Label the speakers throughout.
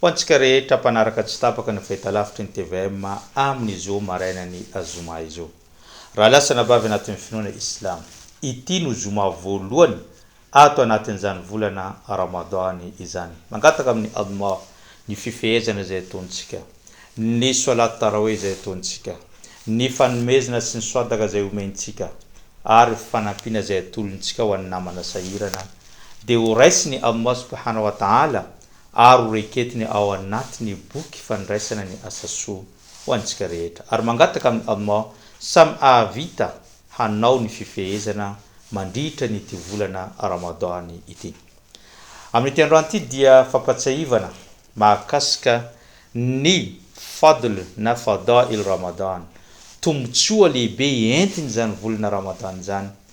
Speaker 1: Ho antsika rehetra mpanaraka tsy tapaka ny fahitalavitry ny tvm amin'ny zo marainan'ny zoma izao. Raha lahy sy anabavy anatin'ny finoana islamo, ity no zoma voalohany ato anatin'izany volana Ramadan izany. Mangataka amin'i Allah ny fifehezana izay ataontsika, ny solat taraweh izay ataontsika, ny fanomezana sy ny swadaka izay omentsika ary fanampiana izay atolontsika ho an'ny namana sahirana dia ho raisin'i Allah subhanahu wa ta'ala ary ho reketiny ao anaty ny boky fandraisana ny asa soa ho antsika rehetra ary mangataka amin'i Allah samy hahavita hanao ny fifehezana mandritra an'ity volana Ramadan ity. Amin'ity androany ity dia fampatsiahivana mahakasika ny fadl na fadâ'il Ramadan, tombotsoa lehibe entin'izany volana Ramadan izany,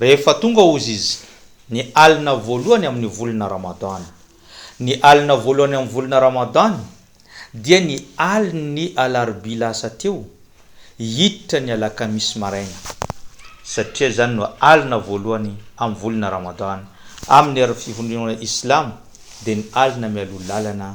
Speaker 1: Rehefa tonga Oziz, ny alina voalohany amin'ny volana Ramadan. Ny alina voalohany amin'ny volana Ramadan dia ny alin'ny alarobia lasa teo hiditra ny alakamisy maraina, satria izany no alina voalohany amin'ny volana Ramadan amin'ny erin'ny fivondronana Islamo, dia ny alina mialoha lalana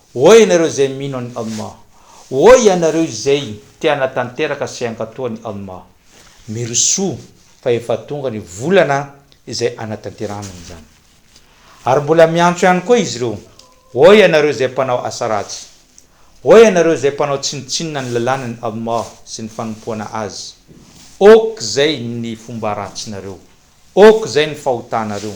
Speaker 1: Ô ianareo izay mino an'i Allah! Ô ianareo izay te hanatanteraka sy hankatoa an'i Allah! Mirosoa fa efa tonga ny volana izay hanatanterahana an'izany. Ary mbola miantso ihany koa izy ireo, Ô ianareo izay mpanao asa ratsy! Ô ianareo izay mpanao tsinontsinona ny lalànan'i Allah sy ny fanompoana Azy! Ok izay ny fomba ratsinareo! Ok izay ny fahotanareo!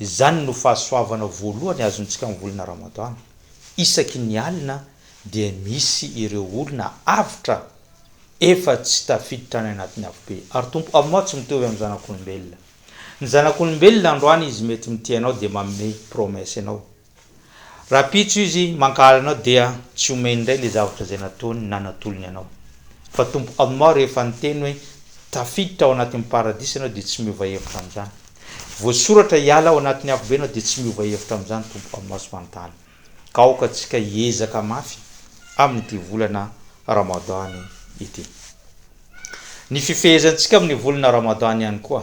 Speaker 1: Izany no fahasoavana voalohany azontsika amin'ny volana Ramadana. Isaky ny alina dia misy ireo olona avotra efa tsy tafiditra any anatin'ny afobe. Ary Tompo, Aminao tsy mitovy amin'ny zanak'olombelona. Ny zanak'olombelona androany izy mety mitia anao dia manome promesse anao. Rahampitso izy mankahala anao dia tsy omeny indray ilay zavatra izay nataony na natolony anao. Fa Tompo Amor rehefa niteny hoe tafiditra ao anatin'ny paradisa ianao dia tsy miova hevitra amin'izany. Voasoratra hiala ao anatin'ny afobe ianao dia tsy miova hevitra amin'izany Tompo Amor sy Mantala. Ka aoka tsika hiezaka mafy amin'ity volana Ramadan ity. Ny fifehezantsika amin'ny volana Ramadan ihany koa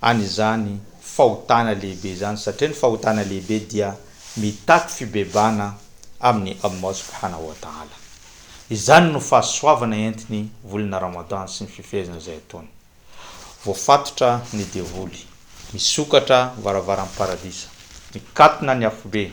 Speaker 1: an' izany fahotana lehibe izany, satria ny fahotana lehibe dia mitaky fibebana amin' i Allah subhanahu wa ta'ala. Izany no fahasoavana entiny volana Ramadan sy ny fifehezana izay ataony. Voafatotra ny devoly, misokatra ny varavaran' ny Paradisa, mikatona ny afobe,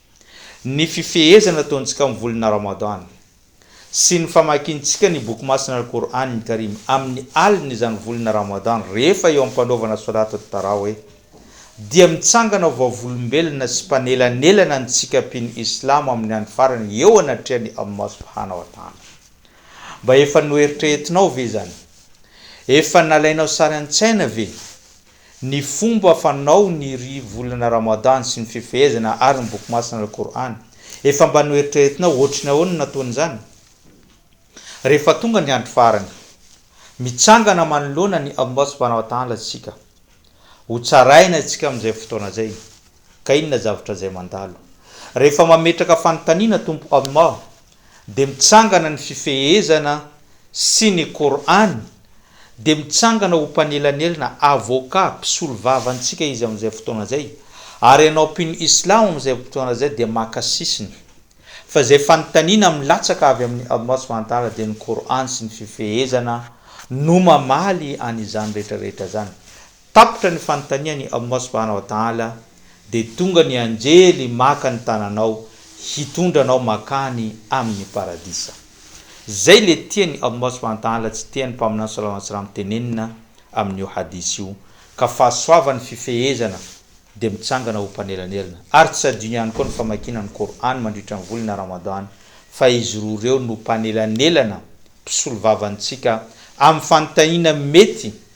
Speaker 1: Ny fifehezana ataontsika amin'ny volana Ramadan sy ny famakintsika ny Boky Masina Al-Qour'an Al-Karim amin'ny alin'ny izany volana Ramadan rehefa eo am-panaovana Solat At-Tarawih dia mitsangana ho vavolombelona sy mpanelanelana antsika mpino Islamo amin'ny andro farany eo anatrehan'i Allah Subhana wa Ta'ala. Mba efa noeritreretinao ve izany? Efa nalainao sary an-tsaina ve? Ny fomba fanao ny ry volana Ramadan sy ny fifehezana ary ny boky masina Al-Qur'an. Efa mba noeritreretinao ohatry ny ahoana ny nataony izany? Rehefa tonga ny andro farany. Mitsangana manoloana an'i Allah Subhanahu wa Ta'ala isika. Ho tsaraina isika amin'izay fotoana izay. Ka inona zavatra izay mandalo? Rehefa mametraka fanontaniana Tompo Allah dia mitsangana ny fifehezana sy ny Qour'an dia mitsangana ho mpanelanelana, avocat, mpisolo vava antsika Izy amin'izay fotoana izay, ary ianao mpino Islam amin'izay fotoana izay dia maka sisiny. Fa izay fanontaniana milatsaka avy amin'i Allah subhanahu wa ta'ala dia ny Qour'an sy ny fifehezana no mamaly an'izany rehetra rehetra izany. Tapitra ny fanontanian' i Allah subhana wa ta'âlâ, dia tonga ny anjely maka ny tananao hitondra anao makany amin' ny Paradisa. Izay ilay tian' i Allah subhana wa ta'âlâ tsy tian' ny Mpaminany sallallahu alayhi wa sallam tenenina amin' io hadith io, ka fahasoavan' ny fifehezana dia mitsangana ho mpanelanelana, ary tsy adino ihany koa ny famakiana ny Kor'âny mandritra ny volana Ramadhan, fa izy roa ireo no mpanelanelana mpisolovava antsika amin' ny fanontaniana mety,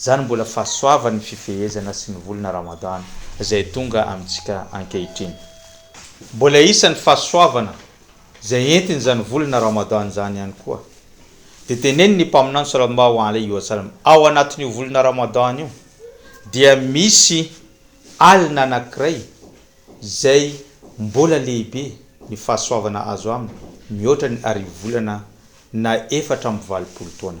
Speaker 1: Izany mbola fahasoavan'ny fifehezana sy ny volana Ramadan izay tonga amintsika ankehitriny. Mbola isan'ny fahasoavana izay entin'izany volana Ramadan izany ihany koa dia tenenin'ny Mpaminany Sallallahu alaihi wa sallam, Ao anatin'io volana Ramadan io dia misy alina anankiray izay mbola lehibe ny fahasoavana azo aminy mihoatra ny harivolana na efatra amby valopolo taona.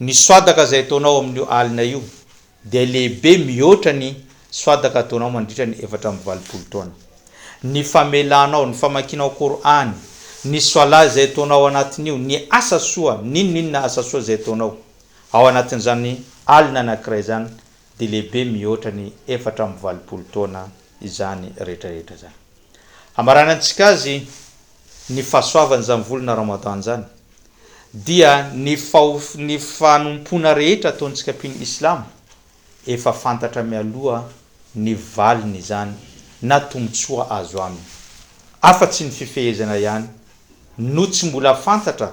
Speaker 1: Ny soadaka izay ataonao amin'io alina io dia lehibe mihoatra ny soadaka ataonao mandritra ny efatra amby valopolo taona. Ny famelanao, ny famakianao Kor'any, ny Swala izay ataonao ao anatin'io, ny asa soa, n'inon'inona asa soa izay ataonao ao anatin'izany alina anankiray izany dia lehibe mihoatra ny efatra amby valopolo taona izany rehetrarehetra izany. Hamaranantsika azy ny fahasoavan'izany volana Ramadan izany dia ny ny fanompoana rehetra ataontsika mpino Islamo efa fantatra mialoha ny valiny izany na tombotsoa azo aminy afa-tsy ny fifehezana ihany no tsy mbola fantatra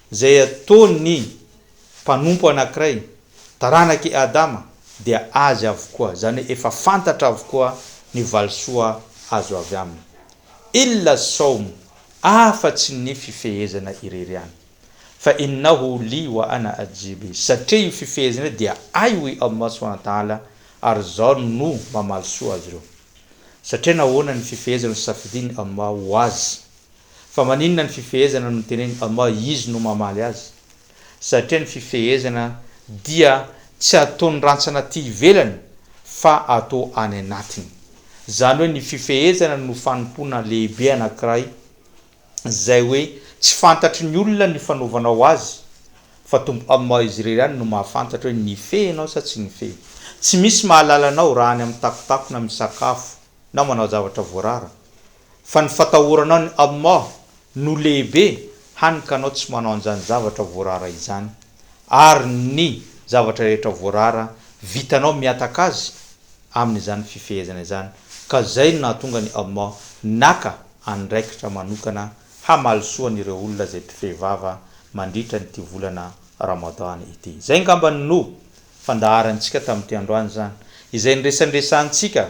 Speaker 1: Izay ataon'ny mpanompo anankiray, taranak'i Adama, dia azy avokoa, izany hoe efa fantatra avokoa ny valisoa azo avy aminy. Illa as-sawm, afa-tsy ny fifehezana irery ihany. Fa innahu li wa ana ajzi bih, satria io fifehezana io dia ahy hoy Allah subhanahu wa ta'ala ary izaho no mamaly soa azy ireo. Satria nahoana ny fifehezana nosafidian'i Allah ho azy? Fa maninona ny fifehezana no teneniny ama izy no mamaly azy? Satria ny fifehezana dia tsy ataony rantsana aty ivelany fa atao any anatiny. Zany hoe ny fifehezana no fanompoana lehibe anakiray zay hoe tsy fantatry ny olona ny fanaovanao azy fa Tompo ama izy irery ihany no mahafantatra hoe nifehy ianao sa tsy nifehy. Tsy misy mahalala anao raha any am takotakona misakafo na manao zavatra voarara fa ny fatahoranao ny Allah no lehibe hany ka anao tsy manao an'izany zavatra voarara izany ary ny zavatra rehetra voarara vitanao mihataka Azy amin'izany fifehezana izany ka izay no nahatonga ny Allah naka andraikitra manokana hamaly soa an'ireo olona izay mpifehy vava mandritra an'ity volana Ramadan ity. Izay ngambany no fandaharantsika tamin'ity androany izany izay niresanresahantsika